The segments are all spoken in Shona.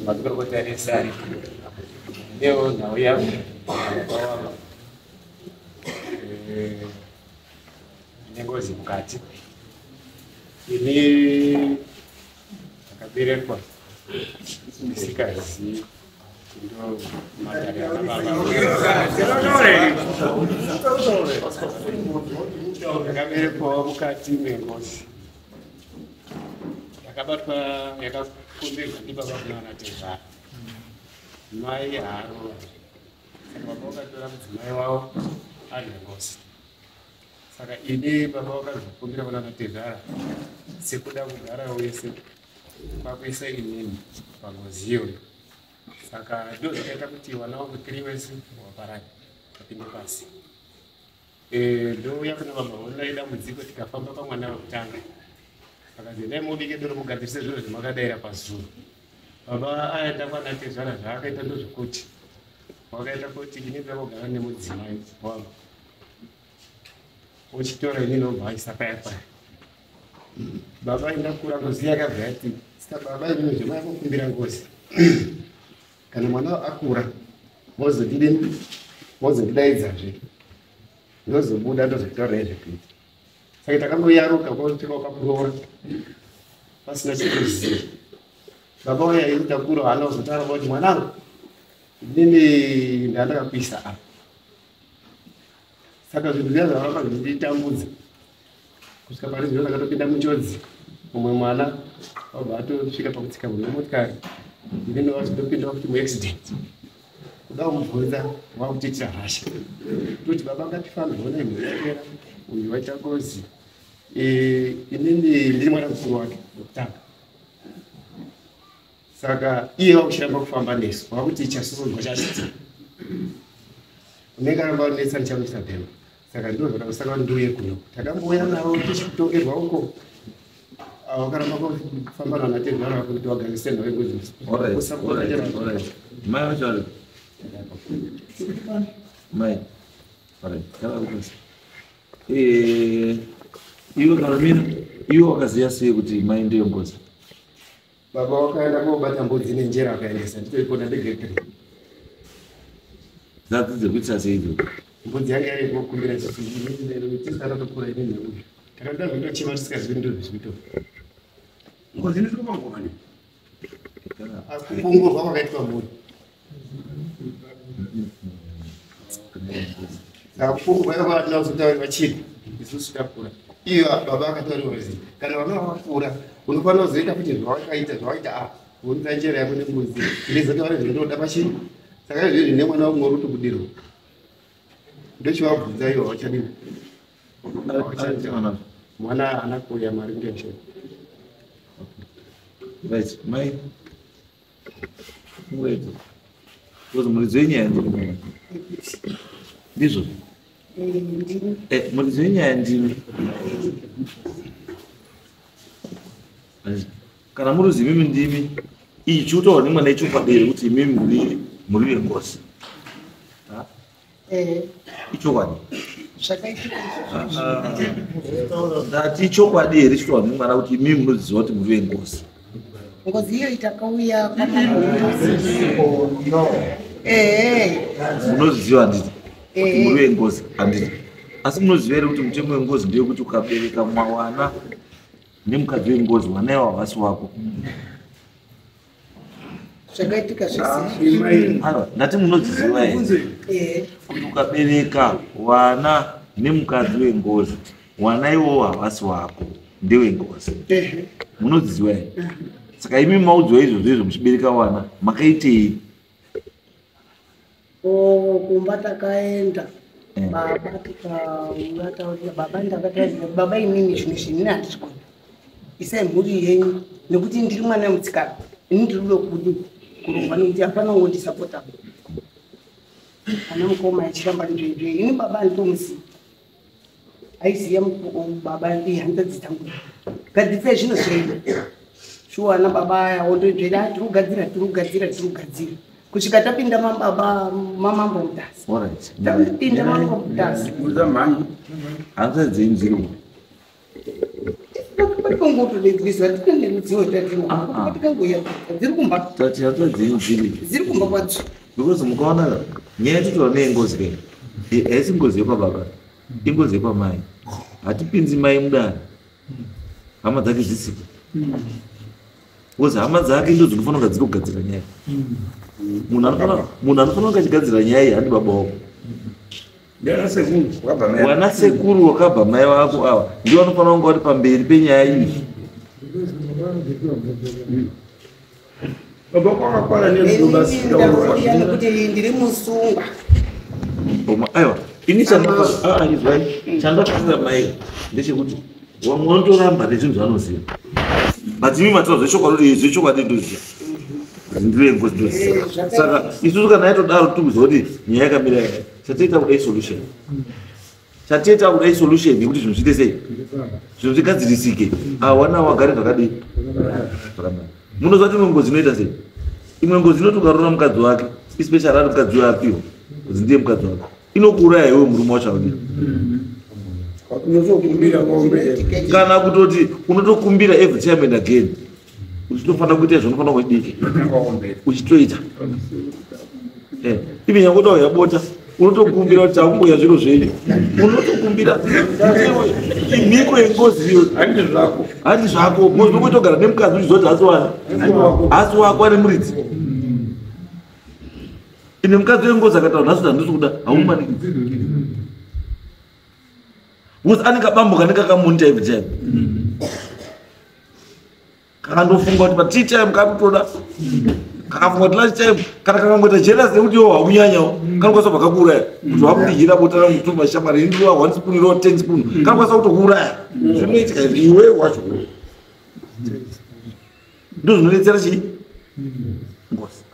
mazikorokota ese ari ndewo nhau yavo vawava nengozi mukati ini akaberekwa ndisikazivi ndakaberekwawo mukati mengozi yakabatwa yakakomberwa ndibaba kuna vana tezvara mai haro saka baba vakatora mudzimai wavo ari nengozi saka ini baba vakazvikumbira kuna vatezvara sekuda kugara wese kwakuisa inini pangozi iyoyo saka ndo zvakaita kuti wana wangu tiri wese waparara apinde pasi e, ndouya kuna baba vonai dambudziko tikafamba pamwana vekutanga akanzi endai mubike doro mugadzirise zviro zvemakadaira pazuro baba aenda kwana tezvara zvaakaita ndozvekuti wakaita kuti ini ndakugara nemudzimai wangu uchitora ini nobva aisa paya paya baba indakura ngozi yakabva yati saka baba imimi zvemayakukumbira ngozi kana mwana akura mozodide mozodidaidzazve ndozobuda ndozokutaura izve kuita saka takangoyaruka kwasvika kwakuroora pasina chekuziva baba waya ini takura hana uzotaura kuti mwanangu inini ndandakakuisa apa saka zvinhu zviya zvavaramba zvichititambudza kusvika pari zvino takatopinda muchonzi mumwe mwana wabva atosvika pakutsika mune motikari ine ndovachitopinda kuti muaccident kuda kumubvunza wakutoitira hasha toti baba ngatifambe hona imhera uyu waita ngozi inini ndiri mwana mukuru wake wekutanga saka iye wakushamba kufamba nesu wakuti chasuzwa chachiti unenge aramba anetsa ndichamuisa bhema saka ndozvatakusaka ndiuye kuno takambouya navo tichitoerwa uko wakaramba kufamba nana tezvara vakuti wagangisena vekuziusapotaaamai vachari mai aaakutosa iwe karomina iwe wakaziva sei kuti mai ndiyo ngozi Baba wakaenda kobata mbudzi nenjera akaendesa nditoipona ndegekre. Dzadzi dziri kuitisa sei idzo? Mbudzi yanga yave kukumbira chisara tokura ine nhau. Takada kutochema tisingazivi ndizvo zvizvito. Ngozi inotokupa ngoma ne? Akupongorwa kwakaitwa mhuri. vakuvaatinazotaura chii isusu takura iyo baba akataura kuti kana vana vakakura unofanira kuzoita kuti zvawakaita zvawaita a kuunza njera yako nembuzi ndizotaura zvindoda pachii saka izvizvi nemwana wakumwe uri kutobudirwa ndochivabvunza ivo vachadini mwana haana kuuya mari ngezvee Right, my Ngozi muridzi wenyaya ndimi. Ndizvo. Eh, muridzi wenyaya ndimi. Kana muri zimimi ndimi ichi utaura nemwana ichi upadere kuti imimi muri muri vengozi. Eh. ichokwadi ndati ichokwadi here chitaura nemwana kuti imii munoziva kuti muri vengozi ngozi iyo itakauya munoziva handiti kuti muri vengozi handiti asi munoziva here kuti mutemo wengozi ndeyekuti ukabereka mwawana nemukadzi wengozi wanaiwa havasi wako zvakaitika zvesindati munodziziva here kuti ukabereka vana nemukadzi wengozi vana iwowo havasi wako ndewengozi munodziziva here saka imi maudzwa izvozvo izvo muchibereka vana makaitei Oh, kumba takaenda mm. baba tikauya taurira baba ndakataurira baba inini zvimwe zvinhu ini handizvigona isai mhuri yenyu nekuti ndiri mwana wemutsikana ini ndiri kuda kudi kurongwa nekuti hapana ungondisapota ana mukoma achiramba ndizvo ini baba handitomusiya aiziya baba ihanzadzi dzangu gadzisa zvino zvaida shuwa ana baba aya wondoibvera ah, tirugadzira tirugadzira tirugadzira kusvika tapinda mababa mamambo mutasi tapinda mambo mutasi hanzadzi inzirwa because mukaona nyaya yatitaura neengozi kei haisi ngozi yepababa ingozi yepamai hatipinzi mai mudani hama dzake dzisipo because hama dzake ndo dzinofanira kunga dziri kugadzira nyaya munhu anofanira kunga achigadzira nyaya iyi handi baba wako wana sekuru wakabva mai vako ava ndi vanofanira kunge vari pamberi penyaya iyi ndiri musungwa aiwa ini chandaizwai ah, chandakuira mai ndechekuti vamwe vanotoramba nezvinhu zvanoziva but imi mataura zvechokwadi zvechokwadi ndoziva ndirengozi ndoziva eh, saka isusu kana yaitodaro tikuziva kuti nyaya yakamira yaka chatiita kuda isolution chatiita kuda isolution yekuti zvinhu zviite sei zvinhu zvigadzirisike awana wagare zvakadii munoziva kuti imwe ngozi inoita sei imwe ngozi inoti ukarora mukadzi wake especially ari mukadzi uyo apiwa kuti ndiye mukadzi wake inokuuraya iwe murume wacho audira kana kutoti unotokumbira every time and again uchitofanira kuita zvinofanira kudii uchitoita eh, ivi nyange utauya bota unotokumbira kuti takumboya zviro zvenyu unotokumbira mhiko yengozi iyo handi zvako mozokuitogara nemukadzi uchizoti hasi wani hasi wako ari muridzi ine mukadzi wengozi akataura nhasi ndandisikuda haumanikidzi Because anenge abambuka anenge akamunita every time. Kakandofunga kuti patii time kakutoda. Kakafunga kuti last time kana kakangoita jealous nekuti yo hakunyanyawo. Kanokwanisa kubva kakuuraya. Kuti wakundihira bota rangu two mashamari ini ndiwa one spoon iro ten spoon. Kanokwanisa kutokuuraya. Zvinoitika izvi iwe wacho. Ndozvinodetsera chii? Ngozi.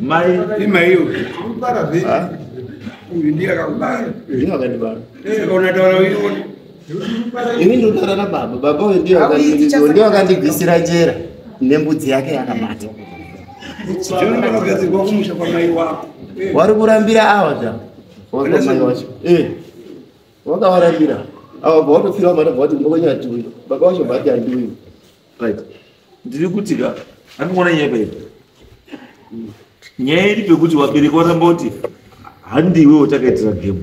Mai imaiyo kubara vhe. Uyu ndiye akakubara. Ndiye akandibara. Eh, kaona taura uyu. Ini ndotara na baba. Baba uyu ndiye akandibara. Ndiye akandigwisira njera nembudzi yake yakabata. Zvino ndakagadzirwa kumusha kwa mai wako. Eh. Wari kurambira awa zva. Waka mai wacho. Eh. Wakawarambira. Awa bwa watofira mara bwa kuti mbokonya tuyo. Baba wacho bati anduyo. right ndiri kuti ka andiona nyaya paipa nyaya iri pekuti wabereki waramba kuti handiwe watakaitira game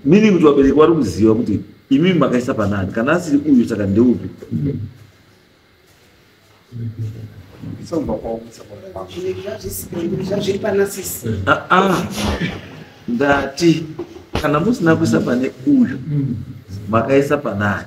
meaning kuti wabereki wari kuziva kuti imi makaisa panani kana asiri uyu saka ndeupi ah, ah. ndati kana musina kuisa pane uyu makaisa panani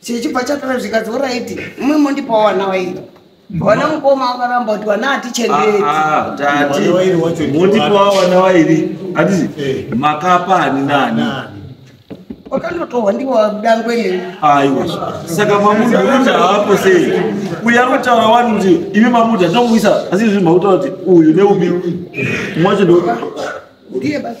chichibva chatara zvikadzi oraiti imwe mondipawo wana waita wana mukoma wakaramba kuti wana hatichengeti ah, ah, mondipawo wana wairi atizi eh. makapa ani nani wakandotohwa ndiwadangwene aiwa saka mamuda kuti haapo sei uyu ari kutaura wani kuti imi mamuda ndinomuisa asi izvi mautaura kuti uyu neubi mwacho ndo ndiye basi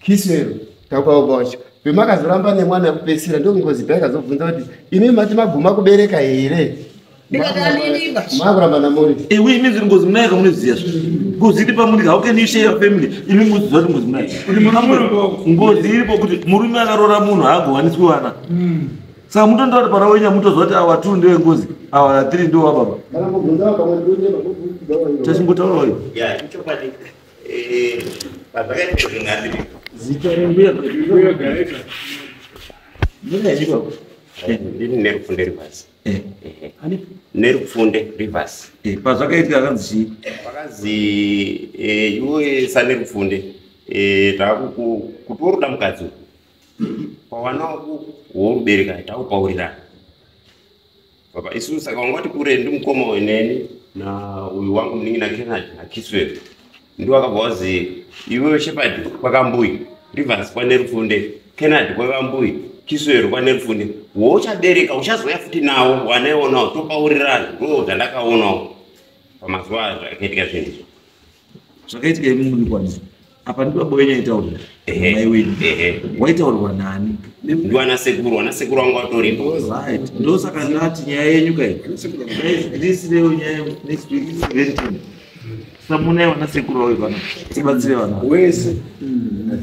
kiss ero takwaobaocha pemakazoramba nemwana yekupesira ndokungozi pai kazobvunza kuti imi mati maguma kubereka here makuramba namuri iwe imi ziri ngozi munaika munoziva zvo ngozi iri pamuri how can you share your family imi muziva kuti ngozi munaika ngozi iripo kuti murume akaroora munhu haagowaniswi wana hmm. saka mutonda kuti pana wenya mutoziva kuti awa two ndewe ngozi awa three ndewa baba tachingotaurawo Zita rembuya mbuya gaita. Mbuya chiko. Ndiri nerupfunde rivers. Eh. Ani nerupfunde rivers. Eh, pazvakaitika kanzi. Pakanzi eh iwe sane rupfunde. Eh takuku kuti woruda mukadzi. Pawana worubereka takupaurira. Baba isu saka wangoti kure ndi mukoma uyu neni na uyu wangu muningi na Kennedy na Kiswell. Ndiwo akabva wazi iwewe Shepherd kwakambuyi Rivers kwane Rufunde Kennedy kwevambuyi Kiswell kwane Rufunde wouchabereka uchazouya futi nawo wanaionawo topaurirana ndoo zvandakaonawo pamazuva azvo akaitika zvinhu izvo. zvakaitika imi muri kwanisa apa ndiba boyo nyaitaurwa mai wenyu waitaurwa nani ndiwana sekuru wana sekuru wangu watoripo right ndosaka ndati nyaya yenyu kai this day nyaya next week is very ten samuna wana sekuru wawe kana tibatsire vana wese hmm.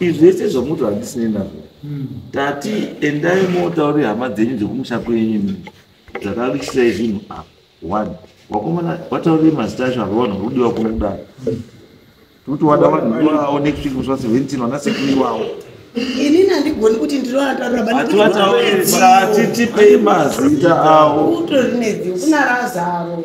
izvi zvese zvamuti handisinei nazvo hmm. tati endai motauri hama dzenyu dzekumusha kwenyu dzakavikisai zvinhu apa one wakomana wataurei mazita acho akawana kurudiwa kuno kudaro tikuti wada vanhu iwawo next week muswa seventeen wana sekuru iwawo ini nandigoni kuti ndiroatauraaatitipei mazita awo utori nedziwo kunara zavo